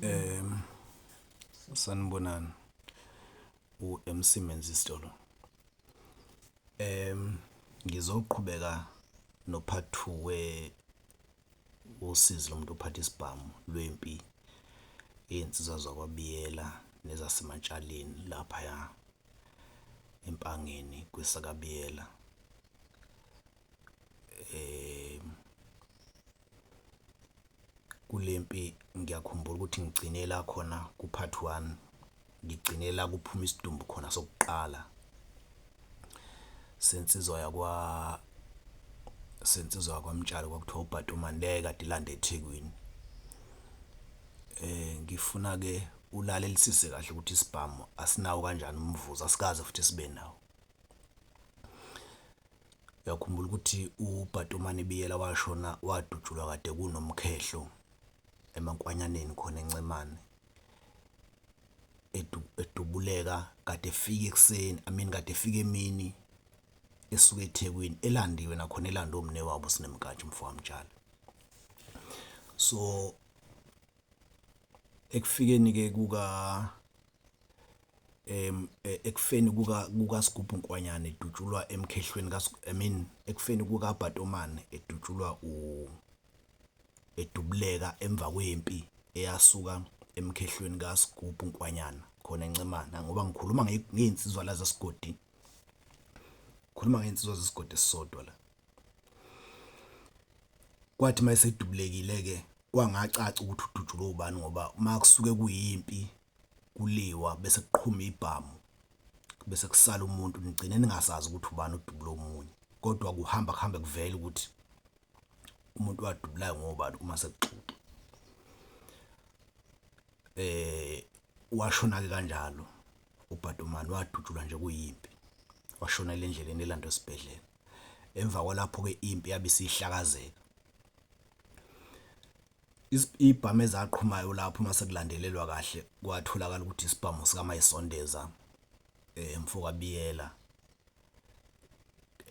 Um sanibonani u-M_C Menzisitolo. Ngizoqhubeka no-part two we usizi lomuntu ophatha isibhamu lwempi iy'nsizwa zakwaBiyela nezaseMatshaleni laphaya eMpangeni kwesakaBiyela . kule mpi ngiyakhumbula ukuthi ngigcine la khona ku-part one ngigcine la kuphuma isidumbu khona sokuqala sensizwa yakwa sensizwa kwamtshalo kwakuthiwa ubhatumane leyo kade ilande ethekwini eh ngifuna ke ulalelisise kahle ukuthi isibhamu asinawo kanjani umvuzo asikaze futhi sibe nawo uyakhumbula ukuthi uBhatomane Biyela washona wadutshulwa kade kunomkhehlo emankwanyaneni khona encemane edubuleka kade efika ekuseni i mean kade efika emini esuke eThekwini elandiwe nakhona elande omne wabo sinemkantshi mfowamtshali so ekufikeni ke kuka em e, ekufeni kuka kukaSigubhu Nkwanyana edutshulwa emkhehlweni ka I mean ekufeni kuka Bhatomane edutshulwa u edubuleka emva kwempi eyasuka emkhehlweni kaSigubhu Nkwanyana khona eNcemana ngoba ngikhuluma ngey'nsizwa la zesigodini ngikhuluma ngey'nsizwa zesigodi esisodwa la. Kwathi mayesedubulekile-ke kwangacaca ukuthi udutshulwe ubani ngoba uma kusuke kuyimpi kuliwa bese kuqhuma ibhamu bese kusala umuntu nigcine ningasazi ukuthi ubani odubule omunye kodwa kuhamba kuhambe kuvele ukuthi umuntu wadubulayo ngobani uma sekuxoxa eh washona-ke kanjalo ubhadomani wadutshulwa nje kuyimpi washonela endleleni elandwa esibhedlela emva kwalapho-ke impi yabe isihlakazeka. Iy'bhamu ezaqhumayo lapho uma sekulandelelwa kahle kwatholakala ukuthi isibhamu sikaMayisondeza um mfokabiyela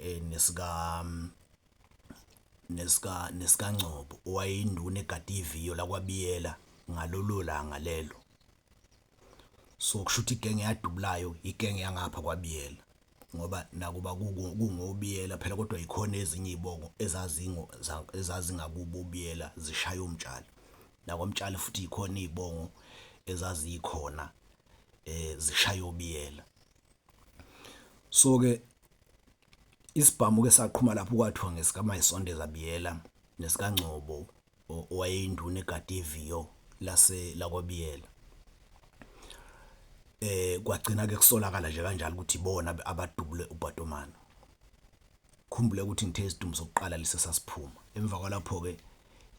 um nesika nesika nesikangcobo owayeyinduna egade iviyo lakwabiyela ngalolo langa lelo. so kusho ukuthi igenge yadubulayo igenge yangapha kwabiyela ngoba nakuba kungobiyela phela kodwa yikhona ezinye izibongo ezazingo ezazingakubo ubiyela zishaya umtshali nakwamtshali futhi yikhona izibongo ezazikhona eh zishaya obiyela so ke isibhamu ke saqhuma lapho kwathiwa ngesikamayisondeza biyela nesikangcobo owayeyinduna egade iviyo lase lakwaBiyela. Kwagcina-ke kusolakala nje kanjalo ukuthi ibona abadubule uPatomana. Khumbule ukuthi ngithe isidumbu sokuqala lesi esasiphuma. Emva kwalapho-ke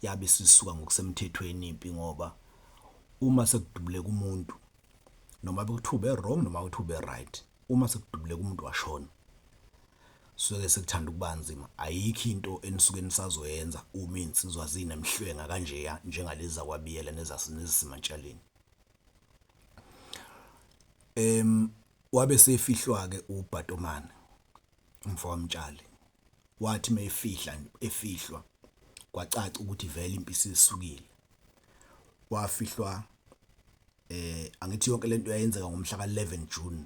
yabe isisuka ngokusemthethweni impi ngoba uma sekudubuleka umuntu noma bekuthiwa ube-wrong noma kuthiwa ube-right, uma sekudubuleka umuntu washona. Suke sekuthanda ukuba nzima, ayikho into enisuke nisazoyenza uma iy'nsizwa zinemhlwenga kanjeya njengalezi zakwaBiyela nezaseNezisemantshaleni. Em, wabe sefihlwa-ke uBhatomane, umfo waMtshali. Wathi uma efihla, efihlwa, kwacaca ukuthi vele impi isisukile. Wafihlwa, eh, angithi yonke le nto yayenzeka ngomhla ka-11 June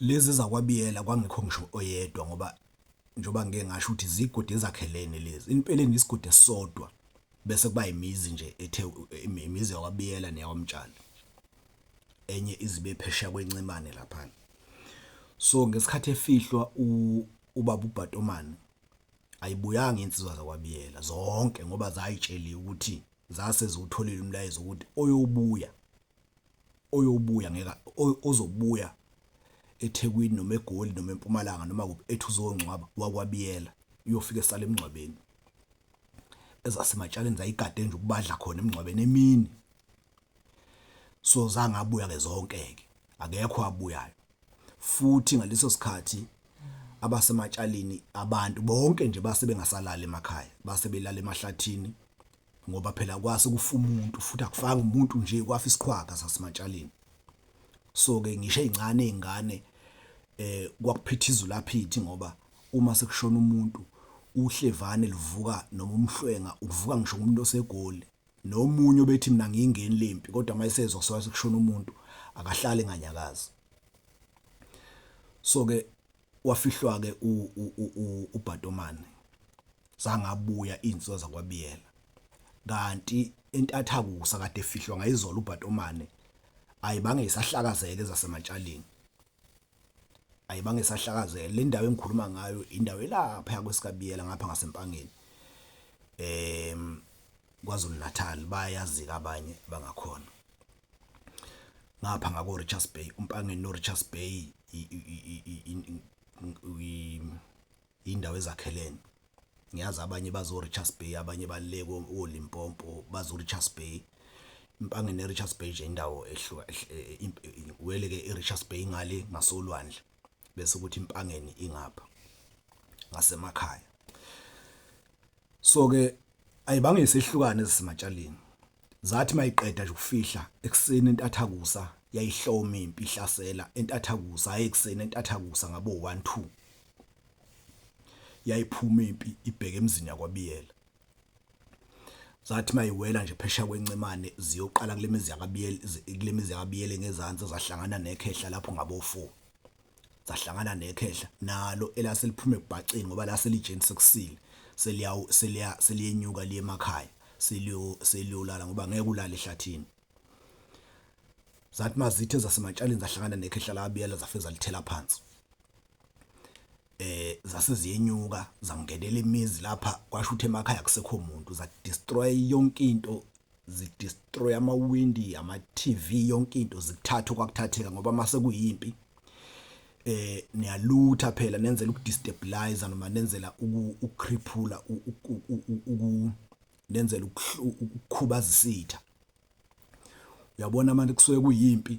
Lezi zakwaBiyela kwangekho ngisho oyedwa ngoba njengoba ngike ngasho ukuthi zigodi ezakhelene lezi impeleni isigodi esisodwa bese kuba imizi nje ethe imizi yakwabiyela neyakwamtshali enye izibe phesheya kwencemane lapha so ngesikhathi efihlwa ubaba ubhatomane ayibuyanga insizwa zakwabiyela zonke ngoba zayitsheliwe ukuthi zase ziwutholile umlayezo ukuthi oyobuya oyobuya ngeke ozobuya eThekwini noma eGoli noma eMpumalanga noma kuphi ethi uzongcwaba wakwabiyela uyofika esale emngcwabeni ezasematshaleni zayigade nje ukubadla khona emngcwabeni emini so zangabuya ke zonke ke akekho abuyayo futhi ngaleso sikhathi abasematshalini abantu bonke nje base bengasalali emakhaya base belala emahlathini ngoba phela kwase kufa umuntu futhi akufanga umuntu nje kwafa isiqhwaga sasimatshaleni so ke ngisho ezincane izingane eh kwakuphitha izulu aphithi ngoba uma sekushona umuntu uhlevane luvuka noma umhlwenga uvuka ngisho umuntu osegoli nomunye obethi mina ngiyingeni lempi kodwa mayisezwa sowathi kushona umuntu akahlali nganyakazi so ke wafihlwa-ke uBhatomane zangabuya iy'nsizwa zakwaBiyela kanti entathakusa kade efihlwa ngayizolo uBhatomane ayibange isahlakazeke ezaseMatshaleni ayibange isahlakazeke le ndawo engikhuluma ngayo indawo elapha kwesikaBiyela ngapha ngaseMpangeni em KwaZulu Natal bayazi abanye bangakhona ngapha ngako Richards Bay umpangeni no Richards Bay indawo ezakhelene ngiyazi abanye bazo Richards Bay abanye baleko oLimpompo bazo Richards Bay impange ne Richards Bay nje indawo ehluka wele ke iRichards Bay ngale ngasolwandle bese ukuthi impangeni ingapha ngasemakhaya so ke ayibangise ihlukane ezisematshaleni Zathi mayiqeda nje ukufihla ekuseni entathakusa yayihloma impi ihlasela entathakusa hayi ekuseni entathakusa ngabo 1 2 yayiphuma impi ibheke emzini yakwabiyela zathi mayiwela nje phesha kwencemane ziyoqala kulemizi yakabiyele kulemizi yakabiyele ngezansi zahlangana nekhehla lapho ngabo 4 zahlangana nekhehla nalo elase liphuma ebhaceni ngoba lase lijeni sekusile seliya seliya seliyenyuka liye emakhaya seliyo seliyolala ngoba ngeke ulale ehlathini zathi mazithe zasematshaleni zahlangana nekhehla labiyela zafe zalithela phansi eh zase ziyenyuka zangenela imizi lapha kwasho ukuthi emakhaya kusekho umuntu za destroy yonke into zidestroy amawindi ama-TV yonke into zikuthatha okwakuthatheka ngoba mase kuyimpi eh niyalutha phela nenzela ukudestabilize noma nenzela ukukriphula uku nenzela ukukhubaza isitha uyabona manje kusuke kuyimpi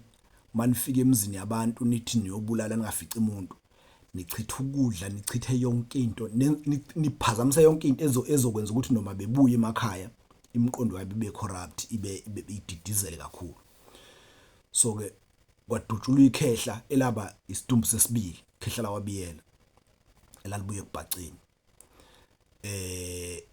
manifika emzini yabantu nithi niyobulala ningafici umuntu nichitha ukudla nichithe yonke into niphazamise yonke into ezokwenza ukuthi noma bebuye emakhaya imiqondo yabo ibe corrupt ibe ididizele kakhulu so ke kwadutshulwa ikhehla elaba isidumbu sesibili khehla lawabiyela elalibuye kubhaceni eh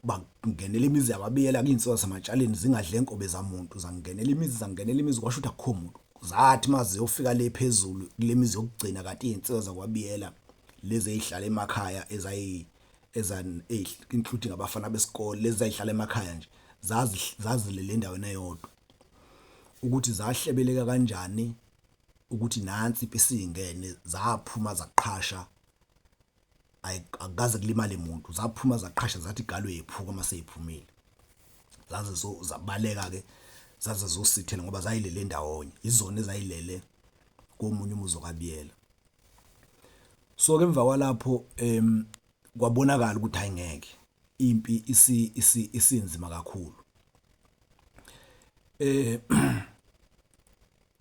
bangenela imizi yababiyela kuyinsoka zamatshaleni zingadle inkobe zamuntu zangenela imizi zangenela imizi kwasho ukuthi akukho muntu zathi maziyofika le phezulu kule mizi yokugcina kanti izinsiza zakwabiyela lezi ezihlala emakhaya ezayi ezan including ngabafana besikole lezi zayihlala emakhaya nje zazilele endaweni eyodwa ukuthi zahlebeleka kanjani ukuthi nansi impi singene zaphuma zaqhasha akukaze kulimale muntu zaphuma zaqhasha zathi galo yephuka uma seyiphumile zaze zabaleka-ke zaze zosithela ngoba zayilele ndawonye izona ezayilele komunye umuzi okabiyela so-ke emva kwalapho um kwabonakala ukuthi hayi ngeke impi isinzima kakhulu um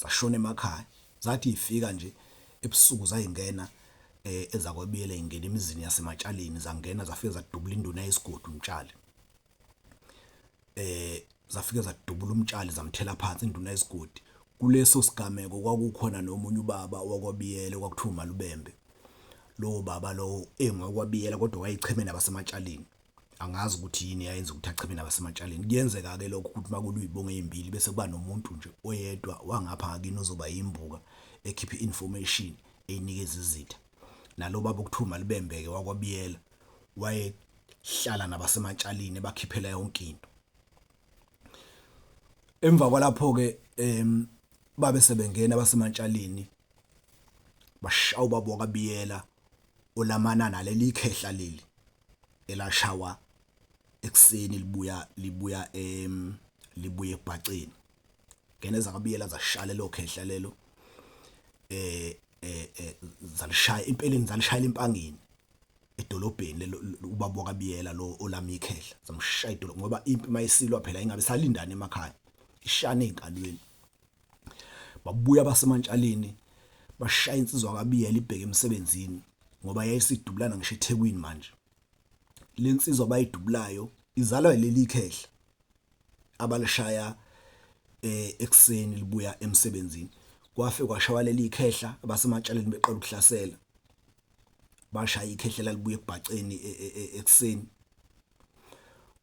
zashona emakhaya zathi ifika nje ebusuku zayingena eh ezakwebiyela ingena emizini yasematshaleni zangena zafike zadubula induna yesigodi umtshali eh zafike zadubula umtshali zamthela phansi induna yesigodi kuleso sigameko kwakukhona nomunye ubaba wakwabiyela kwakuthiwa umalubembe lowo baba lowo engokwabiyela kodwa wayeyichemeni abasematshaleni angazi ukuthi yini yayenza ukuthi acheme nabasematshaleni kuyenzeka-ke lokho ukuthi uma kuluyibonga eyimbili bese kuba nomuntu nje oyedwa wangapha ngakini ozoba yimbuka ekhiphe i-information eyinikeza izitha nalo baba okuthiwa malibembeke wakwabiyela wayehlala nabasematshalini ebakhiphela yonke into emva kwalapho-ke um babe sebengena abasematshalini bashaya ubaba wakabiyela olamana naleli khehla leli elashawa ekuseni libuya libuya em libuye ebhaceni ngene zakabiyela zashaya lo khehla lelo eh eh, eh zalishaya impeleni zalishaya impangeni edolobheni ubaba wakabiyela lo olami ikhehla zamshaya idolo ngoba impi mayisilwa phela ingabe salindana emakhaya ishane enkalweni babuya abasemantshaleni bashaya insizwa kabiyela ibheke emsebenzini ngoba yayisidubulana ngisho ethekwini manje le nsizwa abayidubulayo izalwa yileli ikhehla abalishaya eh, ekuseni libuya emsebenzini kwafe kwashawa leli ikhehla abasematshaleni beqala ukuhlasela bashaya ikhehlela libuye ekubhaceni e, e, e, ekuseni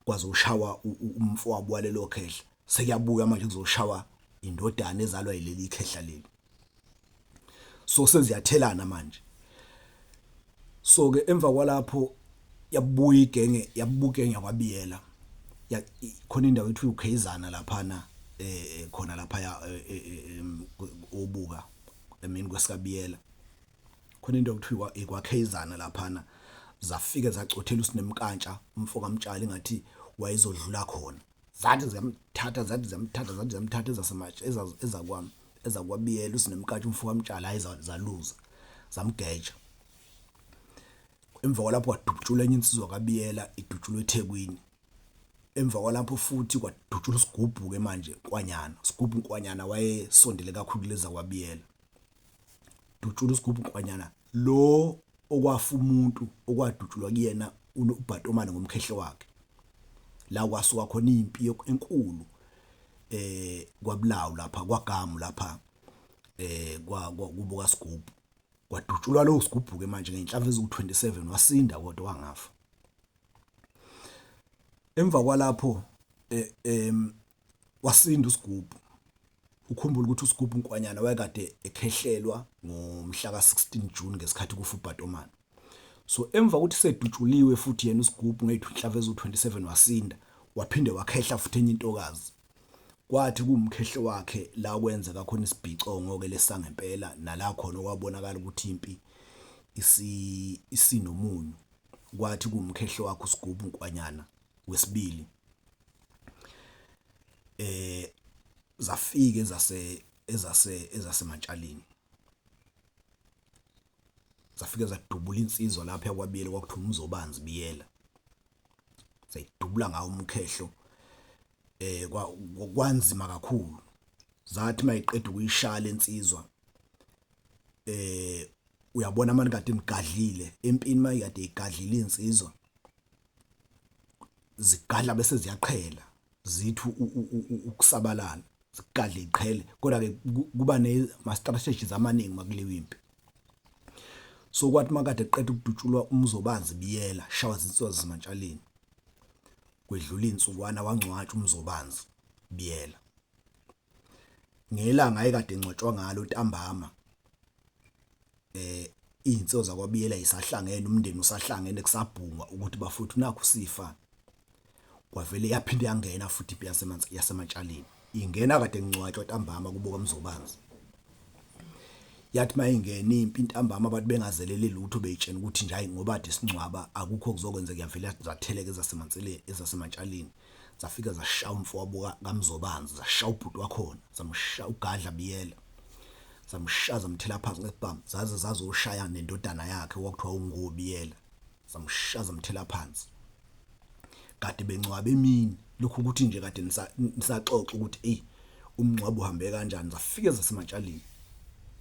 kwaze ushawa umfowabo walelo khehla sekuyabuya manje kuzoshawa indodana ezalwa yileli khehla leli so seziyathelana manje so ke emva kwalapho yabuya igenge yabukenge yakwabiyela khona indawo ethi uKhayizana lapha na eh khona lapha ya eh, eh, eh, obuka emini kwesikabiyela khona into okuthiwa ikwakhezana laphana zafike zacothela usinemkantsha umfo kamtshali ngathi wayezodlula khona zathi ziyamthatha zathi ziyamthatha zathi ziyamthatha ezasematshe ezakwami ezakwabiyela usinemkantsha umfo kamtshali hayi zaluza zamgeja emva kwalapho wadutshula enye insizwa kabiyela idutshulwe ethekwini emva kwalapho futhi kwadutshula isigubhu-ke manje kwanyana sigubhu nkwanyana wayesondele kakhulu leza kwabiyela dutshula usigubhu nkwanyana lo okwafa umuntu okwadutshulwa kuyena ubhatomane ngomkhehle wakhe la kwasuka khona impi enkulu eh kwabulawu lapha kwagamu lapha eh kwa kubuka sigubhu kwadutshulwa lo sigubhu ke manje ngenhlamvu eziwu27 wasinda kodwa wangafa emva kwalapho eh, em wasinda uSigubhu. Ukhumbula ukuthi uSigubhu Nkwanyana wayekade ekhehlelwa ngomhla ka-16 June ngesikhathi kufa uBhatomana. So emva kokuthi sedutshuliwe futhi yena uSigubhu ngeyithu inhlava ezu-27 wasinda, waphinde wakhehla futhi enye intokazi. Kwathi kuwumkhehlo wakhe la kwenzeka khona isibhicongo-ke lesangempela nala khona okwabonakala ukuthi impi isinomunyu. Kwathi kuwumkhehlo wakhe uSigubhu Nkwanyana wesibili. eh zafika ezase ezase ezasematshalini zafike zadubula insizwa lapha yakwabiyela kwakuthiwa umzobanzi biyela sayidubula ngawo umkhehlo eh kwanzima kakhulu zathi mayiqeda ukuyishala insizwa eh uyabona manje kade nigadlile empini mayikade igadlile insizwa zigadla bese ziyaqhela zithi ukusabalala zigadle iqhele kodwa ke kuba ne ma strategies amaningi makuliwa impi so kwathi makade qeda ukudutshulwa umzobanzi biyela shawa zinsizwa zimantshaleni kwedlula insukwana wangcwatsha umzobanzi biyela ngelanga ayekade engcwatshwa ngalo ntambama eh izinso zakwabiyela isahlangene umndeni usahlangene kusabhungwa ukuthi bafuthu nakho sifa kwavele yaphinde yangena futhi ipi yasemanzi yasematshaleni ingena kade ngcwatshwa ntambama kubuka mzobanzi yathi mayingena impi intambama abantu bengazelele lutho beyitshena ukuthi nje hayi ngoba de singcwaba akukho kuzokwenzeka yavele zatheleke ezasemanseleni ezasematshaleni zafika zashaya umfowabo kaMzobanzi zashaya ubhuti wakhona zamshaya ugadla biyela zamshaya zamthela phansi ngesibhamu zaze zazoshaya nendodana yakhe wakuthiwa ungubiyela zamshaya zamthela phansi kade bencwaba emini lokhu ukuthi nje kade nisaxoxa ukuthi ey umncwabo uhambe kanjani zafike zasematshalini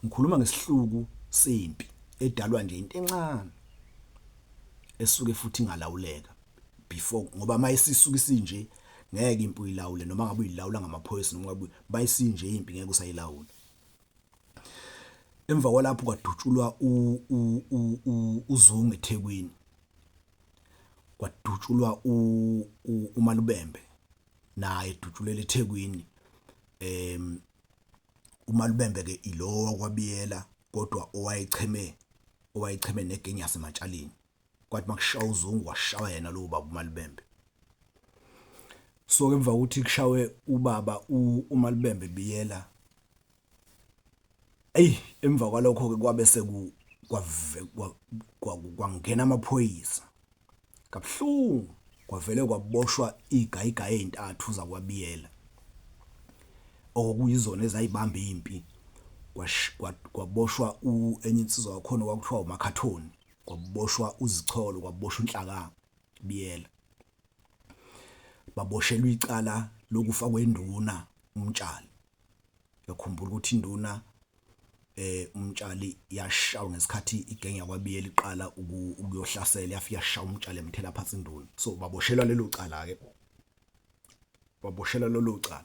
ngikhuluma ngesihluku sempi edalwa nje into encane esuke futhi ingalawuleka before ngoba mayisisuka isinje ngeke impi uyilawule noma ngabe uyilawula ngamaphoyisa noma ngabe bayisinje impi ngeke usayilawula emva kwalapho kwadutshulwa uzungu eThekwini kwadutshulwa umalubembe naye edutshulele eThekwini em umalubembe ke ilowa kwabiyela kodwa owayecheme owayecheme negenge yasematshaleni kwathi makushawa uzungu washawa yena lowo baba umalibembe so ke emva kokuthi kushawe ubaba umalibembe biyela eyi emva kwalokho ke kwabe seku kwangena amaphoyisa kabuhlungu kwavele kwaboshwa izigayigayi ezintathu zakwabiyela okuyizona ezayibamba impi kwaboshwa enye insizwa yakhona kwakuthiwa umakhathoni kwakuboshwa uzicholo kwakuboshwa unhlakanga biyela baboshelwa icala lokufa kwenduna umtshali yakhumbula ukuthi induna eh umtshali yashawa ngesikhathi igenge yakwabiyela iqala ukuyohlasela yafika yashawa umtshali emthela phansi induna so baboshelwa lelo cala ke baboshelwa lelo cala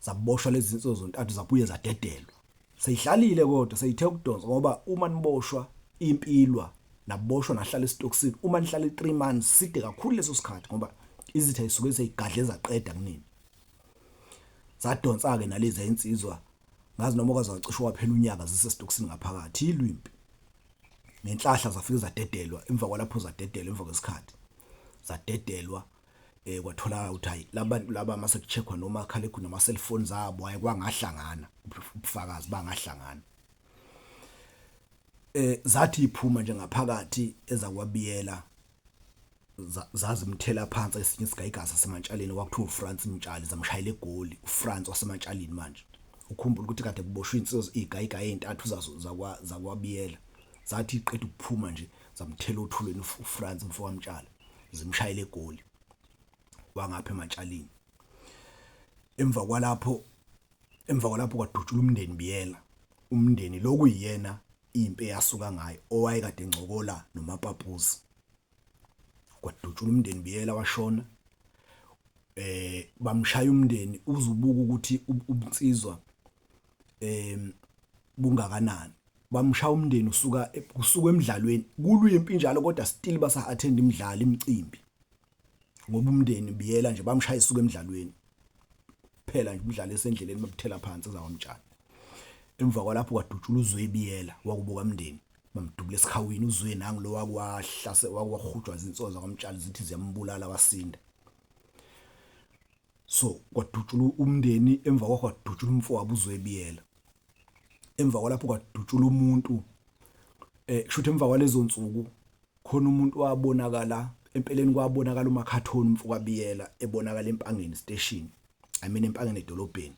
zaboshwa lezi zinsuku zontathu zabuye zadedelwa seyihlalile kodwa seyithe ukudonsa ngoba uma niboshwa impilwa naboshwa nahlala esitokisini uma nihlale 3 months side kakhulu leso sikhathi ngoba izitha isuke seyigadle zaqeda kunini zadonsa ke nalezi insizwa ngazi noma kwaze wacishe waphela unyaka zisesitokisini ngaphakathi ilwimpi nenhlahla zafike zadedelwa emva kwalapho zadedelwa emva kwesikhathi zadedelwa eh kwatholakala ukuthi hayi labantu laba mase kucheckwa noma khalekhu noma cellphone zabo hayi kwangahlangana ubufakazi bangahlangana eh zathi iphuma nje ngaphakathi ezakwabiyela zazimthela phansi esinye sigayigasa sematshaleni kwakuthiwa uFrance Mtshali zamshayela egoli uFrance wasematshaleni manje ukhumbula ukuthi kade kuboshwe insizwa izigayiga ezintathu zazo zakwa zakwabiyela zathi iqeda ukuphuma nje zamthela othulweni uFrance mfowamtshali zimshayele egoli wangapha ematshalini emva kwalapho emva kwalapho kwadutshula umndeni biyela umndeni lokuyiyena impi eyasuka ngayo owayekade ngcokola nomapapuzi kwadutshula umndeni biyela washona eh bamshaya umndeni uzubuka ukuthi ubunsizwa em bungakanani bamshaya umndeni usuka usuka emidlalweni kulwimpi njalo kodwa still basa attend imidlalo imicimbi ngoba umndeni biyela nje bamshaya isuka emidlalweni phela nje umdlalo esendleleni babuthela phansi zawamtshana emva kwalapho kwadutshula uzwe biyela wakubuka umndeni bamdubula esikhawini uzwe nangu lo wakwahlase wakwahujwa izinsoza kwamtshali zithi ziyambulala wasinda so kwadutshulwa umndeni emva kwakho kwadutshulwa umfowabo uzwebiyela emva kwalapho kwadutshulwa umuntu eh kushuthi emva kwalezo nsuku khona umuntu wabonakala empeleni kwabonakala umakhathoni umfokabiyela ebonakala empangeni station i mean empangeni edolobheni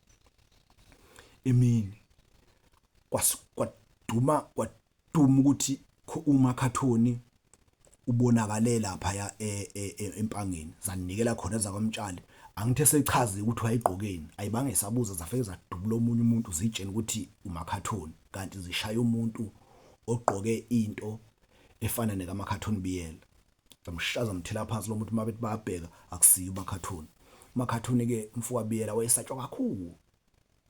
emini kwaduma Duma ukuthi umakhathoni ubonakale laphaya e, e, e, empangeni zanikela khona zakwamtshali angithi esechaze ukuthi wayegqokeni ayibange sabuza zafike zadubula omunye umuntu zitshena ukuthi umakhathoni kanti zishaya umuntu ogqoke into efana nekamakhathoni biyela zamshaza mthela phansi lo muntu uma bethi bayabheka akusiyo umakhathoni umakhathoni-ke mfowabiyela wayesatshwa kakhulu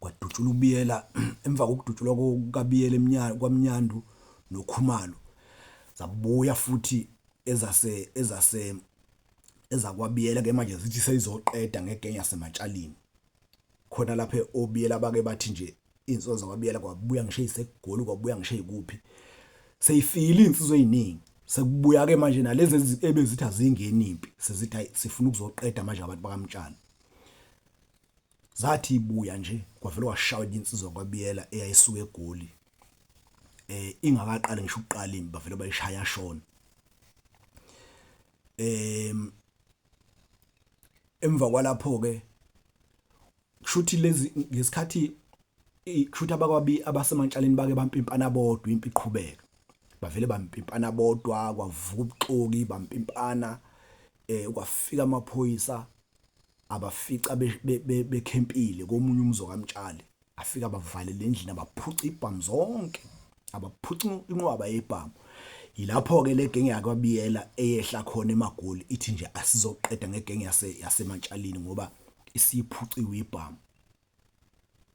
kwadutshulwa uBiyela emva kokudutshulwa kukaBiyela emnyana kwaMnyandu noKhumalo zabuya futhi ezase ezase ezakwabiyela ke manje zithi seyizoqeda ngegenge yasematshalini khona lapha obiyela bake bathi nje insizwa zakwabiyela kwabuya ngisho isegoli kwabuya ngisho ikuphi seyifile insizwa eziningi sekubuya ke manje nalezi ebezithi azingeni impi sezithi sifuna ukuzoqeda manje abantu bakamtshana zathi ibuya nje kwavele washawa insizwa kwabiyela eyayisuka egoli eh ingakaqali ngisho ukuqala imba vele bayishaya shona em emva kwalapho ke kushuthi lezi ngesikhathi kushuthi abakwabi abasemantshaleni bake bampimpana bodwa impi iqhubeka bavele bampimpana bodwa kwavuka ubuxoki bampimpana eh kwafika amaphoyisa abafica bekhempile komunye umzo kamtshali afika abavalele endlini abaphuca ibhamu zonke abaphuca inqwaba yebhamu yilapho-ke le genge yakwabiyela eyehla khona emagoli ithi nje asizoqeda ngegenge yasematshalini ngoba isiyiphuciwe ibhamu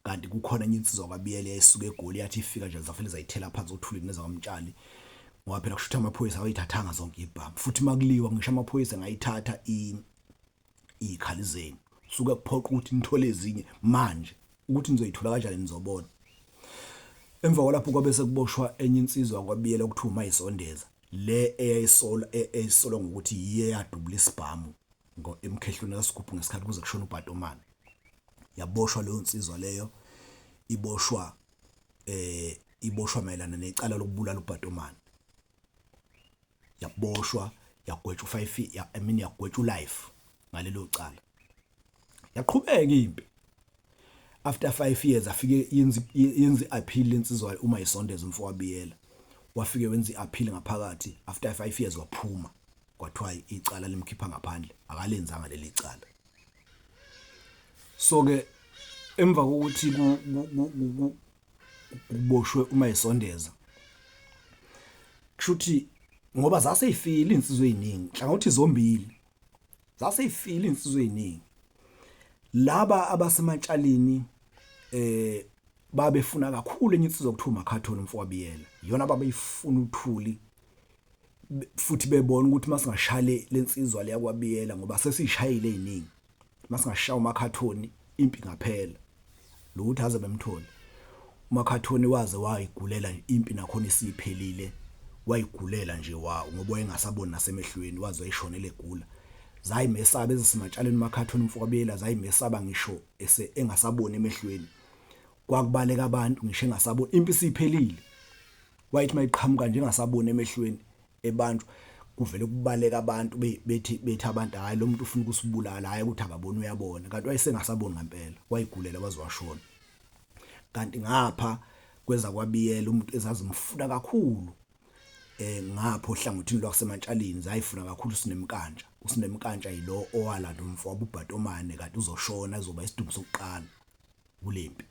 kanti kukhona enye insizwa kwabiyele yayisuke egoli yathi ifika nje zafele zayithela phansi othulini nezakwamtshali ngoba phela kushuthi amaphoyisa awayithathanga zonke ibhamu futhi makuliwa ngisho amaphoyisa ngayithatha izikhali zenu suke kuphoqa ukuthi nithole ezinye manje ukuthi nizoyithola kanjani nizobona emva kwalapho kwabe sekuboshwa enye insizwa kwabiyela okuthiwa umayisondeza le eyayisola e, eyayisolwa ngokuthi yiye yadubula isibhamu emkhehlweni kaSigubhu ngesikhathi kuze kushona uBhatomane yaboshwa leyo nsizwa leyo iboshwa eh iboshwa mayelana necala lokubulala uBhatomane yaboshwa yagwetshwa u5 ya I mean yagwetshwa ulife ngalelo cala yaqhubeka impi after 5 years afike yenza yenza appeal lensizwa uma isondeza umfowabiyela wafike wenza iappeal ngaphakathi after 5 years waphuma kwathiwa icala limkhipha ngaphandle akalenzanga leli cala so ke emva kokuthi kuboshwe uma esondeza kushuthi ngoba zaseyifile insizwe eziningi hlangothi zombili zaseyifile insizwe eziningi laba abasematshalini eh babefuna kakhulu enye insizwa kuthiwa umakhathoni umfowabiyela iyona babeyifuna uthuli futhi bebona ukuthi masingashale lensizwa leya kwabiyela ngoba sesishayile eziningi masingashaya umakhathoni impi ngaphela lo ukuthi aze bemthole umakhathoni waze wayigulela impi nakhona isiphelile wayigulela nje wawo ngoba wayengasaboni nasemehlweni waze wayishonela egula zayimesaba ezisimatshaleni umakhathoni umfowabiyela zayimesaba ngisho ese engasaboni emehlweni kwakubaleka abantu ngisho engasaboni impi isiphelile wayethi mayiqhamuka nje engasaboni emehlweni ebantu kuvele kubaleka abantu bethi bethi abantu hayi lo muntu ufuna ukusibulala hayi ukuthi akaboni uyabona kanti wayesengasaboni ngempela wayigulela wazwashona kanti ngapha kweza kwabiyela umuntu ezazimfuna kakhulu eh ngapho hlangothini lwasemantshalini zayifuna kakhulu sinemkantsha usinemkantsha yilo owalanda umfo wabubhatomane kanti uzoshona ezoba isidumbu sokuqala kulempi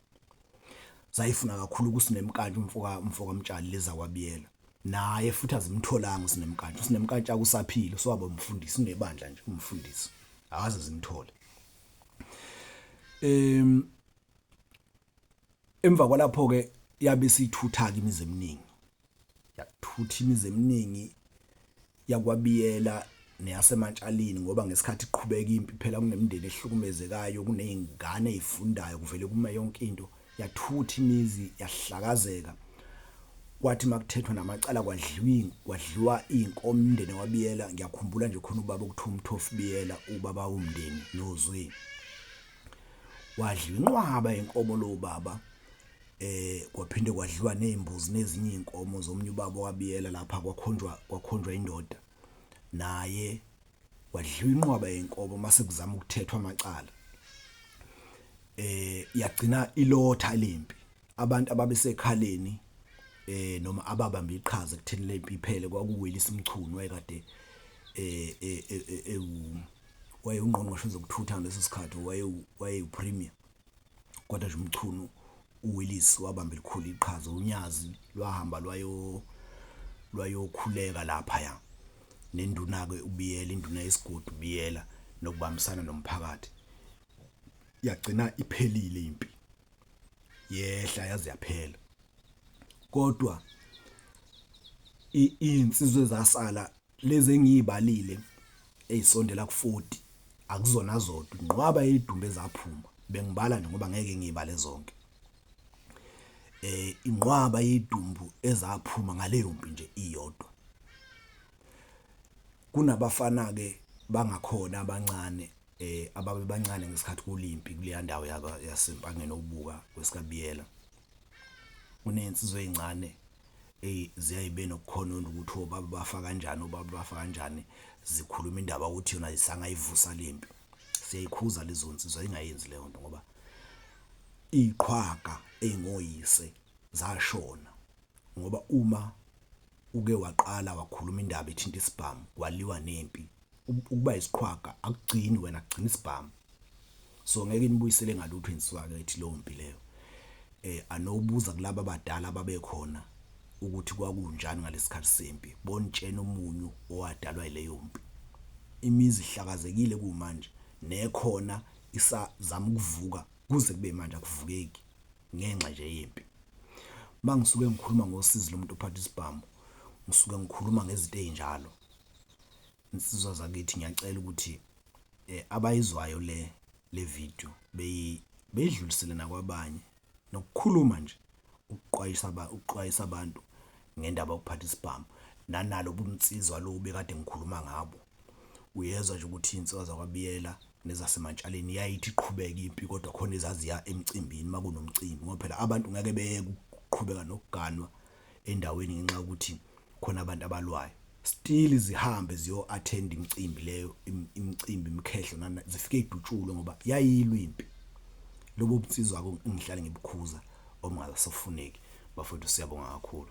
zayifuna kakhulu kusinemkantsha umfoka umfoka mtshali leza kwabiyela naye futhi azimtholanga usinemkantsha usinemkantsha akusaphile so abamfundisi unebandla nje umfundisi akaze zimthole em emva kwalapho ke yabe sithutha ke imizi eminingi yakuthutha imizi eminingi yakwabiyela neyasemantshalini ngoba ngesikhathi iqhubeka impi phela kunemindeni ehlukumezekayo kunezingane ezifundayo kuvele kuma yonke into yathutha imizi yahlakazeka kwathi makuthethwa namacala kwadliwa kwadliwa inkomo umndeni wabiyela ngiyakhumbula nje khona ubaba ukuthiwa umthofu biyela ubaba womndeni nozwe wadliwa inqwaba inkomo lo baba eh kwaphinde kwadliwa nezimbuzi nezinye inkomo zomunye ubaba wabiyela lapha kwakhonjwa kwakhonjwa indoda naye wadliwa inqwaba yenkomo mase kuzama ukuthethwa amacala eh yagcina ilotha lempi abantu ababesekhaleni eh noma ababamba iqhaza kutheni lempi iphele kwakuwelisa umchunu wayekade eh eh, eh, eh, eh waye ungqongqoshe zokuthutha ngaleso sikhathi waye waye upremier kodwa nje umchunu uWillis wabamba elikhulu iqhaza unyazi lwahamba lwayo lwayokhuleka lapha ya nenduna ke ubiyela induna yesigodi ubiyela nokubambisana nomphakathi yagcina iphelile impi yehla yaze yaphela kodwa insizwe zasala Lezi engiyibalile eyisondela ku-40 akuzona zodwa, inqwaba yeyidumbe ezaphuma. Bengibala nje ngoba ngeke ngiyibale zonke. Eh inqwaba yeyidumbu ezaphuma ngaleyo mpi nje iyodwa. Kunabafana ke bangakhona abancane eh ababebancane ngesikhathi kulimpi kuleya ndawo yasempangeni okubuka kwesikabiyela. kunezinsizwa ezincane eyi ziyaye be nokukhononda ukuthi obaba bafa kanjani obaba bafa kanjani zikhuluma indaba ukuthi yona isangayivusa le nto siyayikhuza lezo nsizwa ingayenzi leyo nto ngoba iqhwaga engoyise zashona ngoba uma uke waqala wakhuluma indaba ethinta isibhamu kwaliwa nempi ukuba isiqhwaga akugcini wena kugcina isibhamu so ngeke inibuyisele ngalutho insizwa kethi leyo mpi leyo eh anobuza kulabo abadala babekhona ukuthi kwakunjani ngalesikhathi sempi bontshena umunyu owadalwa ileyo mpi imizi ihlakazekile kumanje nekhona isazama ukuvuka kuze kube manje akuvukeki ngenxa nje yempi mangisuke ngikhuluma ngosizi lomuntu ophatha isibhamu ngisuke ngikhuluma ngezinto ezinjalo insizwa zakithi ngiyacela ukuthi eh, abayizwayo le le video beyi beyidlulisele nakwabanye nokukhuluma nje ukuqwayisa ba ukuqwayisa abantu ngendaba yokuphatha isibhamu nanalo bunsizwa lo bekade ngikhuluma ngabo uyezwa nje ukuthi insizwa zakwabiyela nezasemantshaleni yayithi iqhubeke impi kodwa khona ezaziya emcimbini makunomcimbi ngoba phela abantu ngeke beyeke ukuqhubeka nokuganwa endaweni ngenxa yokuthi khona abantu abalwayo still zihambe ziyo attend imicimbi leyo imicimbi imkhehlo nana zifike idutshulwe ngoba yayilwa impi lobo bunsizwa ko ngihlale ngibukhuza omngasofuneki bafowethu siyabonga kakhulu